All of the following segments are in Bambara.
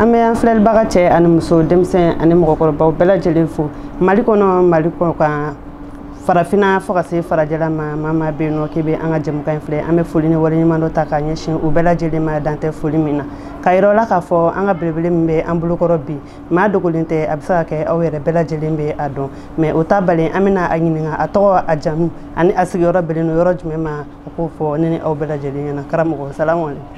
an bɛ an filɛlibaga cɛ ani muso denmisɛn ani mɔgɔkɔrɔbaw bɛɛ lajɛlen fo mali kɔnɔ mali kɔkan farafinna fo ka se farajɛla ma maa maa bɛ yen nɔ k'i bɛ an ka jɛmukan in filɛ an bɛ foli ni waleɲumandɔn ta k'a ɲɛsin u bɛɛ lajɛlen ma dan tɛ foli min na ka yɔrɔ la k'a fɔ an ka belebele min bɛ an bolokɔrɔ bi maa dogolen tɛ a bɛ se ka kɛ aw yɛrɛ bɛɛ lajɛlen bɛ a dɔn mɛ o t'a bali an bɛna a ɲininka a tɔgɔ a jamu ani a sigiyɔrɔ bɛnnen don yɔrɔ jumɛn ma a k'o fɔ ne ni aw bɛɛ lajɛlen ɲɛna karamɔgɔ salamu aleykum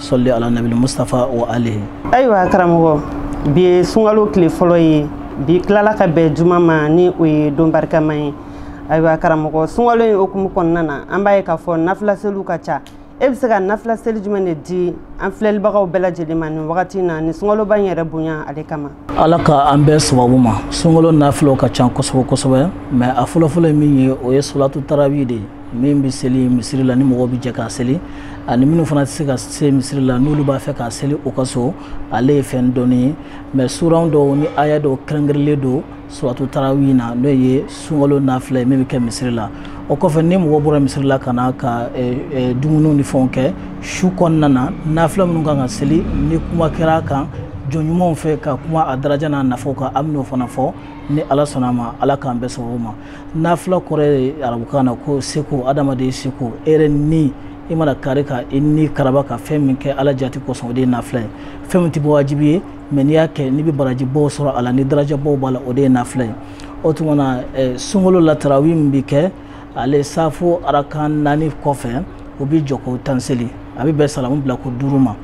sɔli ala nabili mustafa wa alihi ayiwa karamɔgɔ bi ye sunkalo tile fɔlɔ ye bi tilala ka bɛn juma ma ni o ye don barikama ye ayiwa karamɔgɔ sunkalo in hukumu kɔnɔna na an b'a ye k'a fɔ nafilaseliw ka ca e bɛ se ka nafilaseli jumɛn de di an filɛlibagaw bɛɛ lajɛlen ma nin wagati na nin sunkaloba in yɛrɛ bonya ale kama ala ka an bɛn sababu ma sunkalo nafila ka ca kosɛbɛ kosɛbɛ mɛ a fɔlɔfɔlɔ ye min ye o ye solatu tarawi de ye min bɛ seli misiri la ni mɔgɔw bɛ jɛ k'a seli ani minnu fana tɛ se ka se misiri la n'olu b'a fɛ k'a seli u ka so ale ye fɛn dɔnnen ye mɛ suran dɔw ni aya dɔw kɛrɛnkɛrɛnlen don solatu tarawi na n'o ye sunkalo nafila ye min bɛ kɛ misiri la o kɔfɛ ni mɔgɔ bɔra misiri la ka na ka dumuniw ni fɛnw kɛ su kɔnɔna na nafila minnu kan ka seli ni kuma kɛra a kan jɔn ɲumanw fɛ ka kuma a daraja n'a nafaw kan an bɛn'o fana fɔ ni ala sɔnna a ma ala k'an bɛn sababu ma nafila kɔrɔ ye arabukan na ko seko adamaden seko e yɛrɛ ni i mana kari ka i ni karaba ka fɛn min kɛ ala jati kosɔn o de ye nafila ye fɛn min tɛ bɔ wajibi ye mɛ n'i y'a kɛ n'i bɛ barajibaw sɔrɔ a la ni darajabaw b'a la o de ye nafila ye o tuma na eh, sunkalo la tarawi min bɛ kɛ ale safo arakan naani kɔfɛ o bɛ jɔko tan seli a bɛ bɛn salamu bila ko duuru ma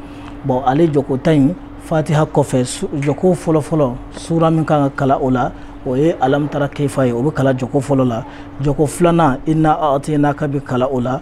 bɔn ale jɔko tan in fatiha kɔfɛ jɔko fɔlɔfɔlɔ sura min kan ka kalan o la o ye alamutara kefa ye o bɛ kalan jɔko fɔlɔ la jɔko filanan ina atinaka bɛ kalan o la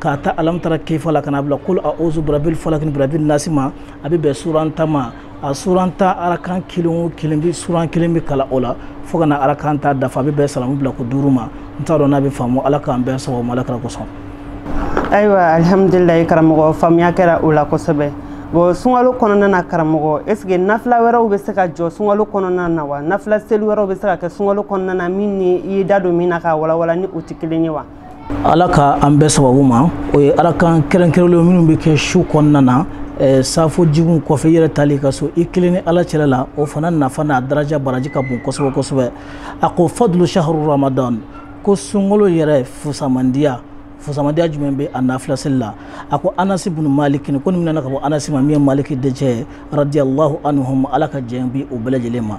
k'a ta alamutara kefa la ka na a bila kulu awuzu birabil falaki ni birabil nasi ma a bɛ bɛn suran tan ma a suran tan arakan kelen o kelen bɛɛ suran kelen bɛ kalan o la fo ka na arakan tan dafa a bɛ bɛn salamu bila ko duuru ma n t'a dɔn n'a bɛ faamu ala k'an bɛn sababu ma ala kira kosɔn. ayiwa alihamudulilayi karamɔgɔ faamuya kɛra o la kosɛbɛ bɔn sunkalo kɔnɔna na karamɔgɔ est ce que nafila wɛrɛw bɛ se ka jɔ sunkalo kɔnɔna na wa nafila seli wɛrɛw bɛ se ka kɛ sunkalo kɔnɔna na min ni i ye da don min na k'a walawala ni o tɛ kelen ye wa ala ka an bɛn sababu ma o ye arakan kɛrɛnkɛrɛnlen minnu bɛ kɛ su kɔnɔna na eh, safo jiginw kɔfɛ i yɛrɛ taali i ka so i kelen ni ala cɛla la o fana nafa n'a daraja baraji ka bon kosɛbɛ kosɛbɛ a ko fadulu shaharu ramadan ko sunkalo yɛrɛ fusamandiya fusamandiya jumɛn bɛ a nafilaseli la a ko anasi bunu maliki ko nin minɛna ka bɔ anasi ma min ye maliki dencɛ ye radiyallahu anhum ala ka jɛn bi u bɛɛ lajɛlen ma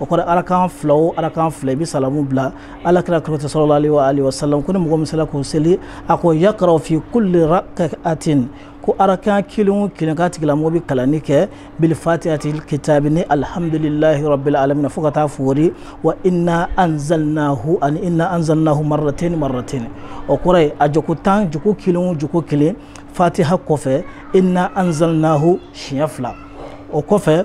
o kɔrɔ arakan fila o arakan fila i bɛ salamu bila ala kira kɔrɔtɛ sɔrɔlali wa sa ko ni mɔgɔ min sela k'o seli a ko yakrau fi kulli rakatin ko arakan kelen kelen kan tigilamɔgɔ bɛ kalanni kɛ bi fatihatil kitabi ni alihamdulilayi rabbil alamina fo ka taa foori wa inna anzalnahu ani inna anzalnahu marratayni marratayni o kɔrɔ ye a jɔko tan jɔko kelen jɔko kelen fatiha kɔfɛ inna anzalnahu siɲɛ fila o kɔfɛ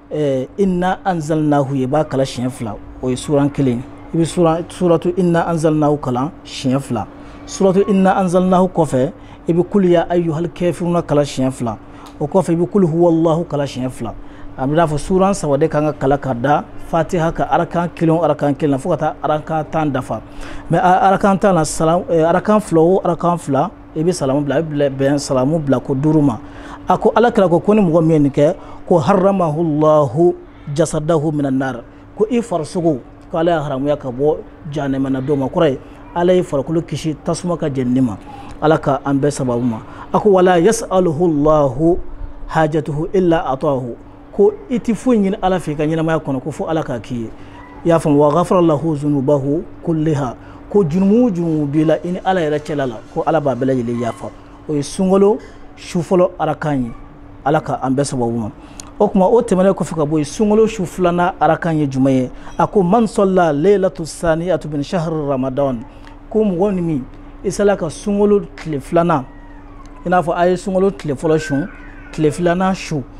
ɛɛ inna anzalnahu i b'a kalan siɲɛ fila o ye suran kelen i bɛ suran suratu inna anzalnahu kalan siɲɛ fila suratu inna anzalnahu kɔfɛ i bɛ kulu ya ayyuhal kafiruna kalan siɲɛ fila o kɔfɛ i bɛ kulu huwallahu kalan siɲɛ fila a b'i n'a fɔ suran saba de kan ka kalan ka da fatiha kan arakan kelen o arakan kelen na fo ka taa arakan tan dafa mɛ arakan tan na salam arakan fila o arakan fila i bɛ salamu bila a bɛ bɛn salamu bila ko duuru ma a ko ala kira ko ko ni mɔgɔ min ye nin kɛ ko haramahu llahu jasadahu minan nar ko i farisogo ko ala y'a haramuya ka bɔ jahanama don ma kɔrɔ ye ala y'i farikolo kisi tasuma ka jɛnini ma ala ka an bɛn sababu ma a ko wala yasaluhu llahu hajatuhu illa atahu ko i tɛ foyi ɲini ala fɛ i ka ɲɛnamaya kɔnɔ ko fo ala k'a k'i ye i y'a faamu wa gafara lahu zunubahu kulliha ko jurumu o jurumu b'i la i ni ala yɛrɛ cɛla la ko ala b'a bɛɛ lajɛlen yafa o ye sunkalo su fɔlɔ arakan ye ala ka an bɛn sababu ma o tuma o tɛmɛnen kɔfɛ ka bɔ yen sunkalo su filanan arakan ye jumɛn ye a ko man salla leilatu saniyatu min shahru ramadan ko mɔgɔ ni min i sela ka sunkalo tile filanan i n'a fɔ a ye sunkalo tile fɔlɔ su tile filanan su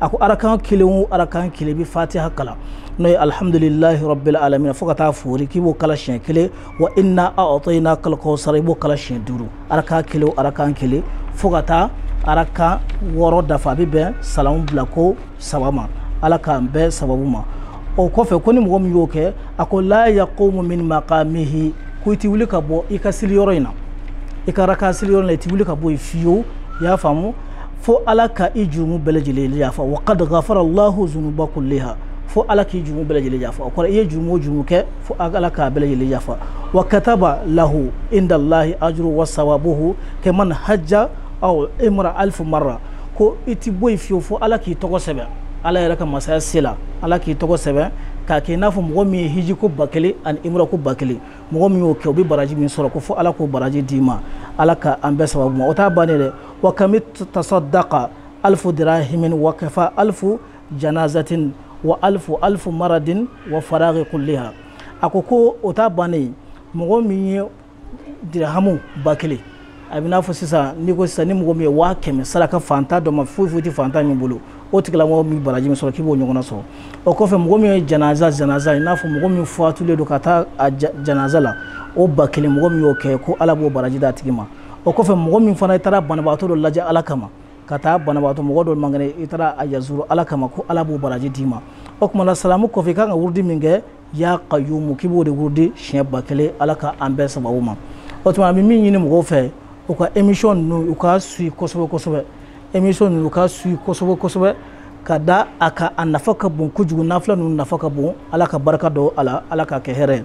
a ko arakan kelen o arakan kelen bɛ fatiha kalan n'o ye alihamudulilahi rabbil alamin fo ka taa foori k'i b'o kalan siɲɛ kelen wa inna a'tayna kal kawsara i b'o kalan siɲɛ duuru arakan kelen o arakan kelen fo ka taa arakan wɔɔrɔ dafa a bɛ bɛn salamu bila ko saba ma ala k'an bɛn sababu ma o kɔfɛ ko ni mɔgɔ min y'o kɛ a ko la yaqumu min maqamihi ko i ti wuli ka bɔ i ka seli yɔrɔ in na i ka arakan seli yɔrɔ in na i ti wuli ka bɔ yen fiyewu i y'a faamu fo ala ka i jurumu bɛɛ lajɛlen yafa wa kad gafara allahu zunuba kulliha fo ala k'i jurumu bɛɛ lajɛlen yafa o kɔrɔ i ye jurumu o jurumu kɛ fo ala k'a bɛɛ lajɛlen yafa wa kataba lahu inda allahi ajru wa sawabuhu kaman hajja aw imra alfu marra ko i ti bɔ yen fiyewu fo ala k'i tɔgɔ sɛbɛn ala yɛrɛ ka masaya se la ala k'i tɔgɔ sɛbɛn k'a kɛ i n'a fɔ mɔgɔ min ye hiji ko ba kelen ani imra ko ba kelen mɔgɔ min y'o kɛ o bɛ baraji min sɔrɔ ko fo ala k'o baraji d'i ma ala ka an bɛn sababu ma o t'a bannen dɛ wa kami tasadaka alifu dirahimi wa kafa alifu janazatin wa alifu alifu maradin wa fara kuliya a ko ko o ta bannen mɔgɔ min ye dirahamu ba kelen a bɛ n'a fɔ sisan ni ko sisan ni mɔgɔ min ye waa kɛmɛ saraka fantan dɔ ma foyi foyi tɛ fantan min bolo o tigilamɔgɔ min baraji min sɔrɔ k'i b'o ɲɔgɔnna sɔrɔ o kɔfɛ mɔgɔ min ye janaza janaza i n'a fɔ mɔgɔ min fatulen don ka taa a janaza la o ba kelen mɔgɔ min y'o kɛ ko ala b'o baraji d'a tigi ma o kɔfɛ mɔgɔ min fana i taara banabagatɔ dɔ lajɛ ala kama ka taa banabagatɔ mɔgɔ dɔ man kɛnɛ i taara a yazuru ala kama ko ala b'o baraji d'i ma o tuma na salamu kɔfɛ i kan ka wurudi min kɛ ya kayumu k'i b'o de wurudi siɲɛ ba kelen ala ka an bɛn sababu ma o tuma n bɛ min ɲini mɔgɔw fɛ u ka emission ninnu u ka suivi kosɛbɛ kosɛbɛ emission ninnu u ka suivi kosɛbɛ kosɛbɛ ka da a ka a nafa ka bon kojugu nafila ninnu nafa ka bon ala ka barika don a la ala ka kɛ hɛrɛ ye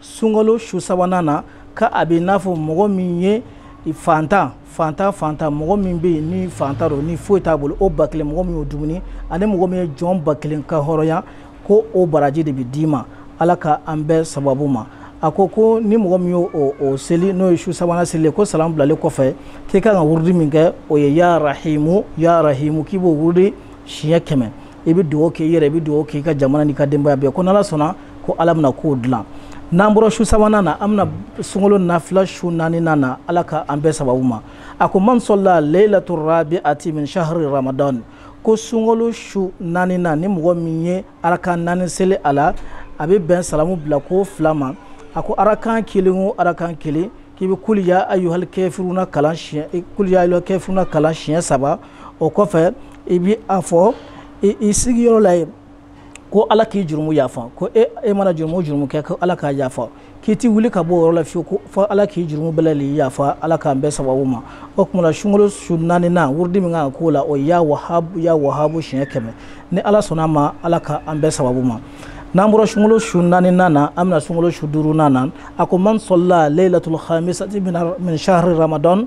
sunkalo su sabanan na ka a bɛ n'a fɔ mɔgɔ min ye fantan fantan fantan mɔgɔ min bɛ yen ni fantan don ni foyi t'a bolo o ba kelen mɔgɔ min y'o dumuni ani mɔgɔ min ye jɔn ba kelen kanhɔrɔnya ko o baraji de bɛ d'i ma ala ka an bɛn sababu ma a ko ko ni mɔgɔ min y'o o seli n'o ye su sabanan seli ye ko salamu bilalen kɔfɛ k'i ka kan ka wurudi min kɛ o ye ya rahimu ya rahimu k'i b'o wurudi siɲɛ kɛmɛ i bɛ dugawu kɛ i yɛrɛ i bɛ dugawu kɛ i ka jamana n'i ka denbaya bɛɛ ko n'ala sɔnna ko ala bɛna kow dilan n'an bɔra su sabanan na an bɛna sunkalo nafila su naaninan na ala ka an bɛn sababu ma a ko man sɔla leilatu rabiati min shahri ramadan ko sunkalo su naaninan ni mɔgɔ min ye arakan naani seli a la a bɛ bɛn salamu bila ko fila ma a ko arakan kelen o arakan kelen k'i bɛ kuliya ayuhal kafiruna kalan siɲɛ kuliya ayuhal kafiruna kalan siɲɛ saba o kɔfɛ i bɛ a fɔ i sigiyɔrɔ la yen ko ala k'i jurumu yafa ko e, e mana jurumu jurumu kɛ ko ala k'a yafa k'i ti wuli ka bɔ yɔrɔ la fiyewu ko fo ala k'i jurumu bɛɛ lajɛlen yafa ala k'an bɛn sababu ma o tuma na sunkalo su naaninan wurudi min kan ka k'o la o ya wahabu ya wahabu siɲɛ kɛmɛ ni ala sɔnna a ma ala k'an bɛn sababu ma n'an bɔra sunkalo su naaninan na an bɛna sunkalo su duurunan na a ko man sɔla leilatul khamisati min shahri ramadan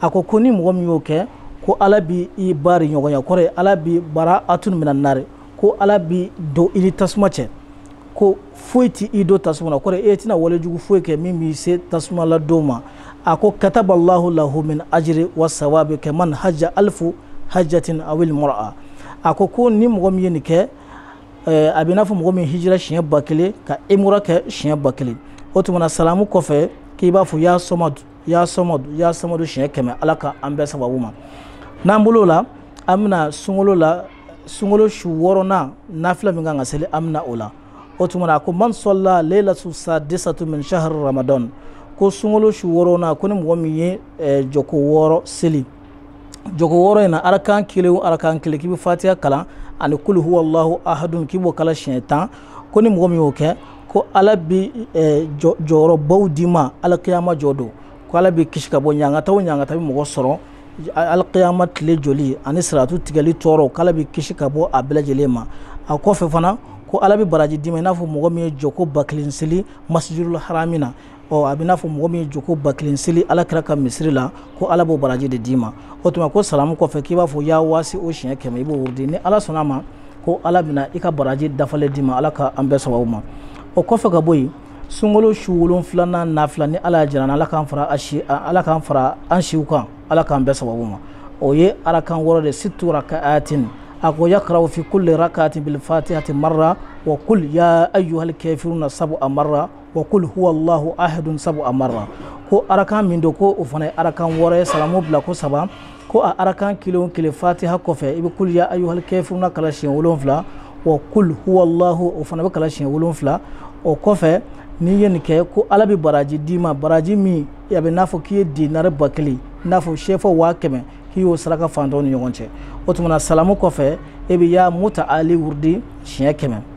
a ko ko ni mɔgɔ min y'o kɛ ko ala bi ibada nɔgɔya kɔrɔ ye ala bi baraatun mina nari ko ala bi don i ni tasuma cɛ ko foyi ti i don tasuma na kɔrɔ e tɛna walejugu foyi kɛ min b'i se tasuma la don ma a ko kataba allahu lahu min ajiri wa sawabi ka man hajja alifu hajjatin awil umura a ko ko ni mɔgɔ min ye nin kɛ eh, a bɛ n'a fɔ mɔgɔ min hijira siɲɛ ba kelen ka umura kɛ siɲɛ ba kelen o tumana salamu kɔfɛ k'i b'a fɔ ya sɔmadu ya sɔmɔ ya sɔmadu siɲɛ kɛmɛ ala ka an bɛn sababu ma n'an bɔr'o la an bɛna sunkalo la sunkalo su wɔɔrɔnan nafila min kan ka seli an bɛna o la o tuma na ko man sɔla leilatu sadisatu min shahri ramadan ko sunkalo su wɔɔrɔnan ko ni mɔgɔ min ye eh, jɔko wɔɔrɔ seli jɔko wɔɔrɔ in na arakan kelen o arakan kelen k'i bɛ fatiya kalan ani kuli huwalahu ahadun k'i b'o kalan siɲɛ tan ko ni mɔgɔ min y'o kɛ ko ala bi eh, jɔyɔrɔbaw d'i ma alakiyama jɔ don ko ala b'i kisi ka bɔ ɲangata o ɲangata bɛ mɔgɔ sɔrɔ alakiyama tile jɔli ani siratu tigɛli tɔɔrɔ k'ala b'i kisi ka bɔ a bɛɛ lajɛlen ma a kɔfɛ fana ko ala bi baraji d'i ma i n'a fɔ mɔgɔ min ye jɔko ba kelen seli masijidul harami na ɔ a bɛ n'a fɔ mɔgɔ min ye jɔko ba kelen seli ala kira ka misiri la ko ala b'o baraji de d'i ma o tuma ko salamu kɔfɛ k'i b'a fɔ ya waasi u siɲɛ kɛmɛ i b'o wurudi ni ala sɔnna a ma ko ala bɛna i ka baraji dafalen d'i ma ala ka an bɛɛ sababu ma o kɔfɛ ka bɔ yen sunkalo su wolonfilanan nafila ni ala y'a jira ala k'an fara a si ala k'an fara an siw kan ala k'an bɛɛ sababu ma o ye arakan wɔɔrɔ de situ raka atin a ko yakraw fi kulli rakatin bil fatihati marra wa kul ya ayyuhal kafiruna sabu a marra wa kul huwa allahu ahadun sabu a marra ko arakan min don ko o fana ye arakan wɔɔrɔ ye salamu bila ko saba ko a arakan kelen o kelen fatiha kɔfɛ i bɛ kul ya ayuhal kafiruna kalan siɲɛ wolonwula wa kul huwa allahu o fana bɛ kalan siɲɛ wolonwula o kɔfɛ n'i ye nin kɛ ko ala bɛ baraji d'i ma baraji min a bɛ n'a fɔ k'i ye dinari ba kelen i n'a fɔ sefa waa kɛmɛ k'i y'o saraka faantanw ni ɲɔgɔn cɛ o tuma na salamu kɔfɛ e bɛ ya muta ali wurudi siɲɛ kɛmɛ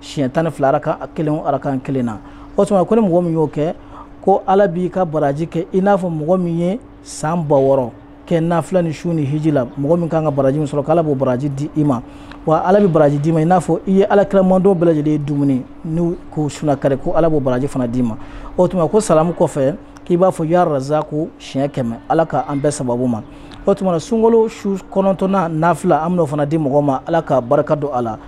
siɲɛ tan ni fila arakan kelen arakan kelen na o tuma ko ni mɔgɔ min y'o kɛ ko ala b'i ka baraji kɛ i n'a fɔ mɔgɔ min ye san ba wɔɔrɔ kɛ nafila ni sun ni hiji la mɔgɔ min kan ka baraji min sɔrɔ k'ala b'o baraji di i ma wa ala bɛ baraji d'i ma i n'a fɔ i ye ala kira mantɔn bɛɛ lajɛlen ye dumuni n'u k'u suna kari ko ala b'o baraji fana d'i ma o tuma ko salamu kɔfɛ k'i b'a fɔ ya razaku siɲɛ kɛmɛ ala ka an bɛɛ sababu ma o tuma sunkalo su kɔnɔntɔnnan nafila an bɛn'o fana di mɔgɔ ma ala ka barika don a la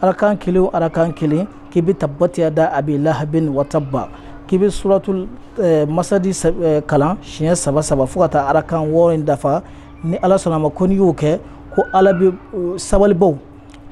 arakan kelen o arakan kelen k'i bɛ tabati yada abi lahabin wataba k'i bɛ suratul eh, masadi eh, kalan siɲɛ saba saba fo ka taa arakan wɔɔrɔ in dafa ni ala sɔnna a ma ko n'i y'o kɛ ko ala bɛ eh, sabalibaw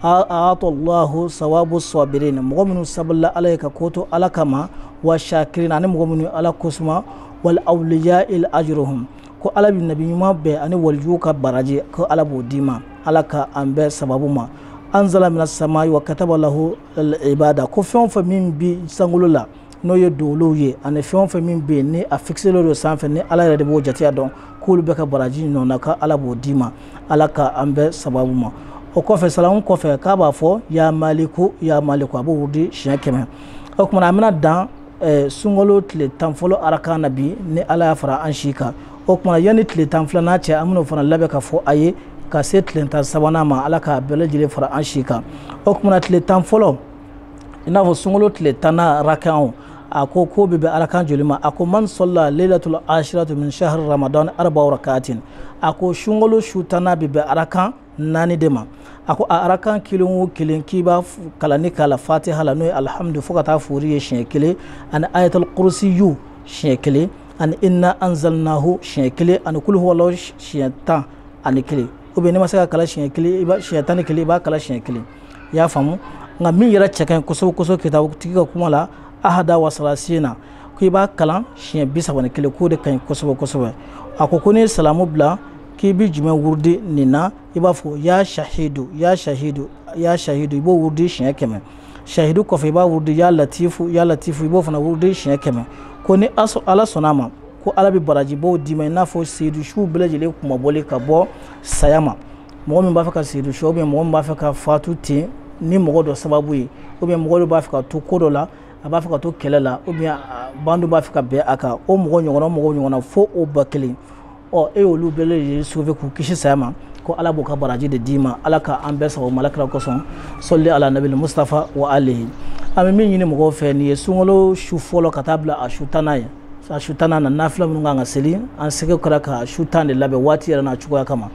aatɔlahu sawabu sɔbirin mɔgɔ minnu sabalila ala ye ka ko to ala kama wa shakirin ani mɔgɔ minnu ala kosuma wal awliya il ajruhum ko ala bɛ nabi ɲuman bɛɛ ani walijuw ka baraji ko ala b'o d'i ma ala ka an bɛɛ sababu ma anzala mina samayi wa kataba lahu alibada ko fɛn o fɛn min bi sankolo la n'o ye doolow ye ani fɛn o fɛn min bɛ yen ni a fikiselen don sanfɛ ni ala yɛrɛ de b'o jateya dɔn k'olu bɛɛ ka baraji ɲɔgɔnna ka ala b'o d'i ma ala ka an bɛɛ sababu ma o kɔfɛ salamu kɔfɛ k'a b'a fɔ ya maliku ya maliku a b'o wurudi siɲɛ kɛmɛ o tuma na an bɛna dan sunkalo tile tan fɔlɔ arakan na bi ni ala y'a fara an si kan o kumana yanni tile tan filanan cɛ an bɛn'o fana labɛn k'a fɔ aw ye ka se tile tan sabanan ma ala k'a bɛɛ lajɛlen fara an si kan o kumana tile tan fɔlɔ i n'a fɔ sunkalo tile tannan arakan o a ko k'o bɛ bɛn arakan joli ma a ko man sala leilatul ashiratu min shahri ramadan arba'a rakatin a ko sunkalo su tannan bɛ bɛn arakan naani de ma a ko a arakan kelen o kelen k'i b'a kalan ni k'a la fatiha la n'o ye alihamudu fo ka t'a foori ye siɲɛ kelen ani ayatal kurusiyu siɲɛ kelen ani inna anzalnahu siɲɛ kelen ani kulu huwalahu siɲɛ tan ani kelen ou bien n'i ma se k'a kalan siɲɛ kelen i b'a siɲɛ tan ni kelen i b'a kalan siɲɛ kelen i y'a faamu nka min yɛrɛ cɛ ka ɲi kosɛbɛ kosɛbɛ kitabu tigi ka kuma la ahada wa salasina ko i b'a kalan siɲɛ bi saba ni kelen k'o de ka ɲi kosɛbɛ kosɛbɛ a ko ko n'i ye salamu bila k'i bɛ jumɛn wurudi nin na i b'a fɔ ya sahidu ya sahidu ya sahidu i b'o wurudi siɲɛ kɛmɛ sahidu kɔfɛ i b'a wurudi ya latifu ya latifu i b'o fana wurudi siɲɛ kɛmɛ ko ni ala sɔnna a ma ko ala bɛ barajiba d'i ma i n'a fɔ seyidu suw bɛɛ lajɛlen kunmabɔli ka bɔ saya ma mɔgɔ min b'a fɛ ka seyidu su ou bien mɔgɔ min b'a fɛ ka fatu ten ni mɔgɔ dɔ sababu ye ou bien mɔgɔ dɔ b'a fɛ ka to ko dɔ la a b'a fɛ ka to kɛlɛ la ou bien bandi b'a fɛ ka bin a kan o mɔgɔ ɲɔgɔnna mɔgɔ ɲɔgɔnna fo o ba kelen ɔ e y'olu bɛɛ lajɛlen sauver k'u kisi saya ma ko ala b'u ka baraji de d'i ma ala ka an bɛɛ sago ma ala kira kosɔn sɔli ala nabili mustafa wa alihi an bɛ min ɲini mɔgɔw fɛ nin ye sunkalo su fɔlɔ ka taa bila a su tannan ye a su tannan na nafila minnu ka kan ka seli an seko kɛra ka su tan de labɛn waati yɛrɛ n'a cogoya kama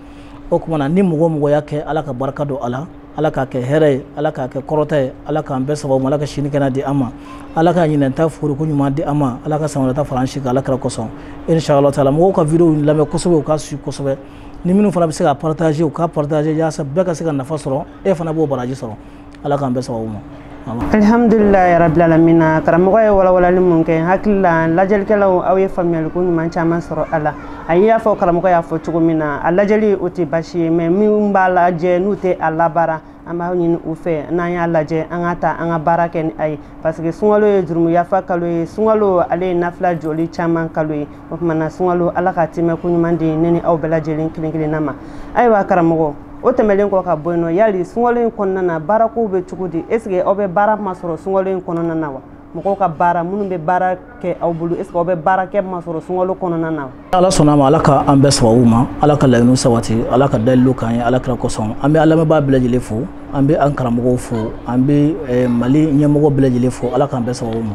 o kumana ni mɔgɔ o mɔgɔ y'a kɛ ala ka barika don a la ala k'a kɛ hɛrɛ ye ala k'a kɛ kɔrɔta ye ala k'an bɛɛ sababu ma ala ka sini kɛnɛ di an ma ala ka ɲinan ta fooriko ɲuman di an ma ala ka san wɛrɛ ta fara an si kan ala kira kosɔn inshallah taala mɔgɔw ka video lamɛn kosɛbɛ u k'a suivre kosɛbɛ ni minnu fana bɛ se ka partager u ka partager yaasa bɛɛ ka se ka nafa sɔrɔ e fana b'o baraji sɔrɔ ala k'an bɛɛ sababu ma alhamdulilayi rabilalamina karamɔgɔ ye walawalali min kɛ n hakili la lajɛlikɛlaw aw ye faamuyaliko ɲuman caman sɔrɔ a la a y'a fɔ karamɔgɔ y'a fɔ cogo min na a lajɛli o tɛ basi ye mais minnu b'a lajɛ n'u tɛ a labaara an b'a ɲini u fɛ n'an y'a lajɛ an k'a ta an ka baara kɛ ni a ye parce que sunkalo ye jurumuyafa kalo ye sunkalo ale ye nafila jɔli caman kalo ye o tuma na sunkalo ala k'a tɛmɛko ɲuman di ne ni aw bɛɛ lajɛlen kelen kelenna ma ayiwa karamɔgɔ o tɛmɛlen kɔ ka bɔ yen nɔ yali sunkalo in kɔnɔna na baarakow bɛ cogo di est ce que aw bɛ baara masɔrɔ sunkalo in kɔnɔna na wa mɔgɔw ka baara minnu bɛ baara kɛ aw bolo est ce que aw bɛ baara kɛ masɔrɔ sunkalo kɔnɔna na wa ala sɔnna ma ala ka an bɛɛ sababu ma ala ka laɲiniw sabati ala ka dalilu k'an ye ala kira kosɔn an bɛ an lamɛnbaa bɛɛ lajɛlen fo an bɛ an karamɔgɔw fo an bɛ eh, mali ɲɛmɔgɔ bɛɛ lajɛlen fo ala k'an bɛɛ sababu ma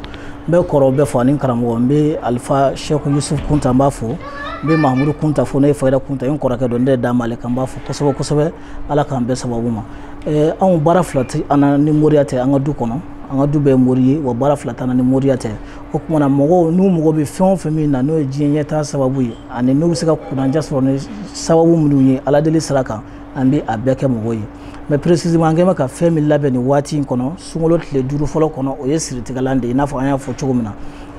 n bɛ kɔrɔw bɛɛ fo ani karamɔgɔ n bɛ alifa sɛku yusuf kunta n b'a fo n bɛ mahamudu kunta fo ne ye fayida kunta n kɔrɔkɛ dɔ n de d'a ma ale kan n b'a fo kosɛbɛ kosɛbɛ ala k'an bɛn sababu ma eh, anw baara fila tɛ an na ni moriya tɛ an ka du kɔnɔ an ka du bɛɛ mori ye wa baara fila t'an ni moriya tɛ o tuma na mɔgɔw n'u mako bɛ fɛn o fɛn min na n'o ye diɲɛ ɲɛtaa sababu ye ani n'u bɛ se ka kunanja sɔrɔ ni sababu minnu ye ala deli sira kan an bɛ a bɛɛ kɛ mɔgɔw ye mais précisément an kɛlen bɛ ka fɛn min labɛn nin waati in kɔnɔ sunkalo tile duuru fɔlɔ kɔnɔ o ye siritigɛlan de ye i n'a fɔ an y'a fɔ cogo min na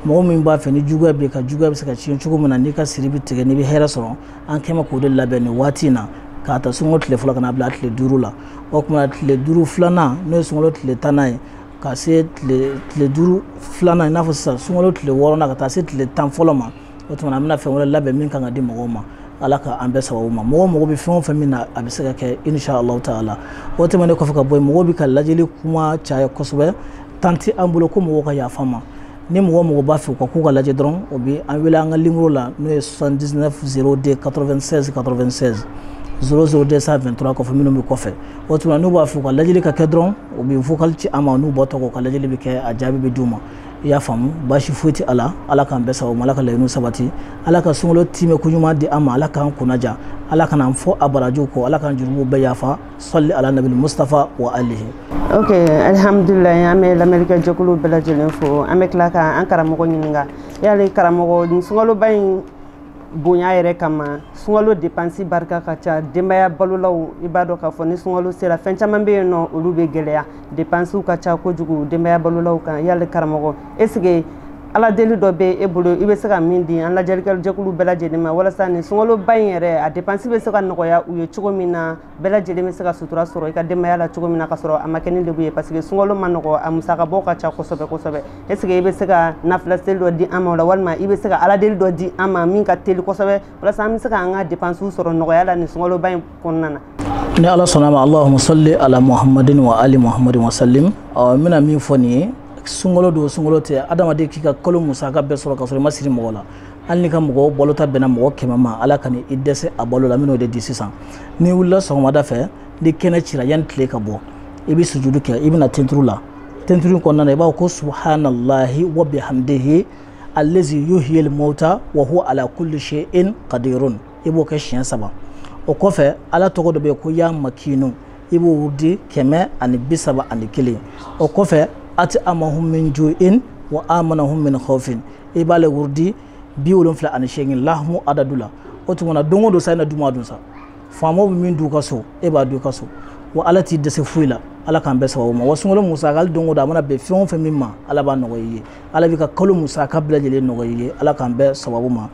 mɔgɔ min b'a fɛ ni juguya b'i kan juguya bɛ se ka tiɲɛ cogo min na n'i ka siri bɛ tigɛ n'i bɛ hɛrɛ sɔrɔ an kɛlen bɛ k'o de labɛn nin waati in na k'a ta sunkalo tile fɔlɔ ka n'a bila tile duuru la o tuma tile duuru filanan n'o ye sunkalo tile tannan ye ka se tile duuru filanan i n'a fɔ sisan sunkalo tile wɔɔrɔnan ka taa se tile tan fɔlɔ ma o tuma an bɛna fɛn wɛrɛ labɛn min kan ka di mɔgɔw ma ala ka an bɛn sababu ma mɔgɔ mako bɛ fɛn o fɛn min na a bɛ se ka kɛ insha allahu taala o tɛmɛnen kɔfɛ ka bɔ yen mɔgɔw bɛ ka lajɛli kuma caya kosɛbɛ temps tɛ an bolo ko mɔgɔw ka yaf'an ma ni mɔgɔ o mɔgɔ b'a fɛ u ka k'u ka lajɛ dɔrɔn o bɛ an wele an ka nimoro la n'o ye 79 02 96 96 00 223 kɔfɛ minnu bɛ kɔfɛ o tuma n'u b'a fɛ u ka lajɛli ka kɛ dɔrɔn u bɛ vocal ci an ma n'u ba tɔgɔ u ka lajɛli bɛ kɛ a jaabi bɛ d'u ma i y'a faamu baasi foyi tɛ a la ala k'an bɛn sababu ala ka laɲiniw sabati ala ka sunkalo timɛko ɲuman di an ma ala k'an kunnaja ala kana an fɔ a barajiw kɔ ala k'an jurumu bɛɛ yafa salli ala nabil mustafa wa alihi ok alihamdulilayi an bɛ lamɛnlikɛ jɛkulu bɛɛ lajɛlen fo an bɛ tila ka an karamɔgɔ ɲininka yali karamɔgɔ nin sunkaloba in bonya yɛrɛ kama sunkalo depansi barika ka ca denbaya balolaw i b'a dɔn k'a fɔ ni sunkalo sera fɛn caman bɛ yen n'olu bɛ gɛlɛya depansiw ka ca kojugu denbaya balolaw kan yali karamɔgɔ est-ce que ala deli dɔ bɛ e bolo i bɛ se ka min di an lamɛnlikɛjɛkulu bɛɛ lajɛlen ma walasa nin sunkaloba in yɛrɛ a depansi bɛ se ka nɔgɔya u ye cogo min na bɛɛ lajɛlen bɛ se ka sutura sɔrɔ i ka denbayaya la cogo min na ka sɔrɔ a ma kɛnɛ de ye parce que sunkalo man nɔgɔ a musaka bɔ ka ca kosɛbɛ kosɛbɛ est-ce que i bɛ se ka nafila seli dɔ di an ma la walima i bɛ se ka ala deli dɔ di an ma min ka teli kosɛbɛ walasa an bɛ se ka an ka depansiw sɔrɔ nɔgɔya la nin sunkaloba in kɔnɔna na ni ala sɔnn'a ma allahuma salli ala muhammadin wa ali muhammadin wa sallim ɔ n bɛna min fɔ nin ye sunkalo don sunkalo tɛ adamaden k'i ka kalo musaka bɛɛ sɔrɔ ka sɔrɔ i ma siri mɔgɔ la hali n'i ka mɔgɔw balota bɛnna mɔgɔ kɛmɛ ma ala kana i dɛsɛ a balo la n bɛn'o de di sisan n'i wulila sɔgɔmada fɛ ni kɛnɛ cira yanni tile ka bɔ i bɛ sujudu kɛ i bɛna tenturu la tenturu in kɔnɔna na i b'a fɔ ko subahanallahi wa bihamdihi allazi yuhiyil mauta wa huwa ala kulli shay'in qadirun i b'o kɛ siɲɛ saba o kɔfɛ ala tɔgɔ dɔ bɛ yen ko ya makiinu i b'o wurudi kɛmɛ ani bi saba ani kelen o kɔfɛ at'amahum min ju'in wa amanahum min khawfin i b'ale wurudi bi wolonfila ani seegin lahamu adadu la o tuma na don o don sa i na duman dun sa faamaw bɛ min dun u ka so e b'a dun i ka so wa ala t'i dɛsɛ foyi la ala k'an bɛn sababu ma wa sunkalo musaka hali don o don a mana bɛn fɛn o fɛn min ma ala b'a nɔgɔya i ye ala b'i ka kalo musaka bɛɛ lajɛlen nɔgɔya i ye ala k'an bɛn sababu ma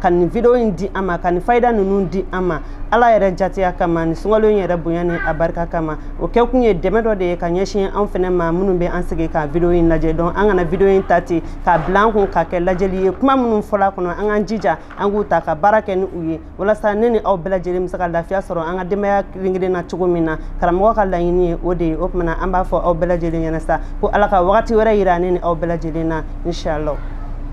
ka nin video in di an ma ka nin fayida ninnu di an ma ala yɛrɛ jatiya kama nin sunkalo in yɛrɛ bonya ni a barika kama o kɛ kun ye dɛmɛ dɔ de ye ka ɲɛsin an fɛnɛ ma minnu bɛ an sigi ka video in lajɛ dɔn an kana video in ta ten k'a bila an kun k'a kɛ lajɛli ye kuma minnu fɔl'a kɔnɔ an k'an jija an k'u ta ka baara kɛ ni u ye walasa ne ni aw bɛɛ lajɛlen bɛ se ka lafiya sɔrɔ an ka denbaya kelen-kelen na cogo min na karamɔgɔ ka laɲini ye o de ye o tuma na an b'a fɔ aw bɛɛ lajɛlen ɲɛna sa ko ala ka wagati wɛrɛ yira ne ni aw bɛɛ lajɛlen na inshallah